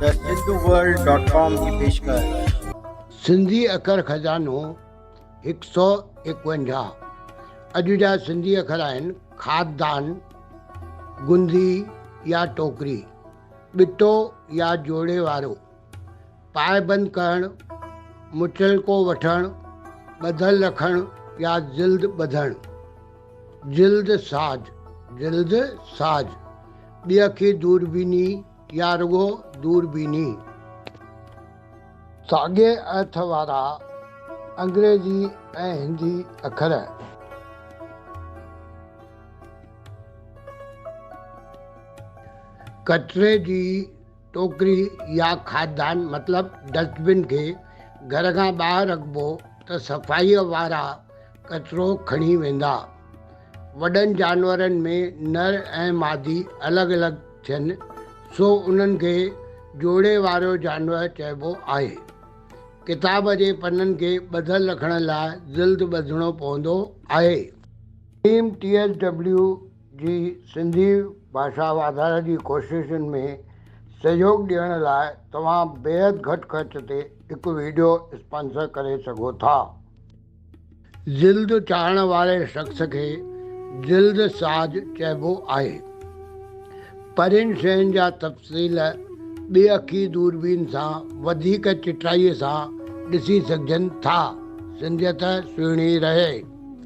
ته Sindhu world dot com جي پيشڪش. سنڌي اکر خزانو هڪ سؤ ايڪونجاهه اڄ جا سنڌي اکر آهن، خاندان، گندي يا ٽوڪري، ٻٽو يا جوڙي وارو، پاء بند ڪرڻ، متعلقو وٺڻ، ٻڌل رکڻ يا جلد ٻڌڻ، جلد ساز، جلد ساز، ٻيهکي دوربيني، يا رڳو دوربيني؟ ساڳئي ارٿ وارا انگريزي ۽ هندي اکر. ڪچري جي ٽوڪري يا کاڌدان مطلب ڊسٽبن کي گهر کان ٻاهر رکبو ته صفائيء وارا ڪچرو کڻي ويندا. وڏن جانورن ۾ نر ۽ مادي الڳ الڳ ٿين سو انهن کي جوڙي واريو جانور چئبو آهي. ڪتاب جي پنن کي ٻڌل رکڻ لاء جلد ٻڌڻو پوندو آهي. ٽيم ٽي ايس ڊبليو جي سنڌي ڀاشا واڌاري جي ڪوششن ۾ سهيوڳ ڏيڻ لاء توهان بيحد گهٽ خرچ تي هڪ وڊيو اسپانسر ڪري سگهو ٿا. جلد چاڙهڻ واري شخص کي جلد ساز چئبو آهي. پرين شين جا تفصيل ٻي اکي دوربين سان وڌيڪ چٽائيء سان ڏسي سگهجن ٿا. سنڌيت سهڻي رهي.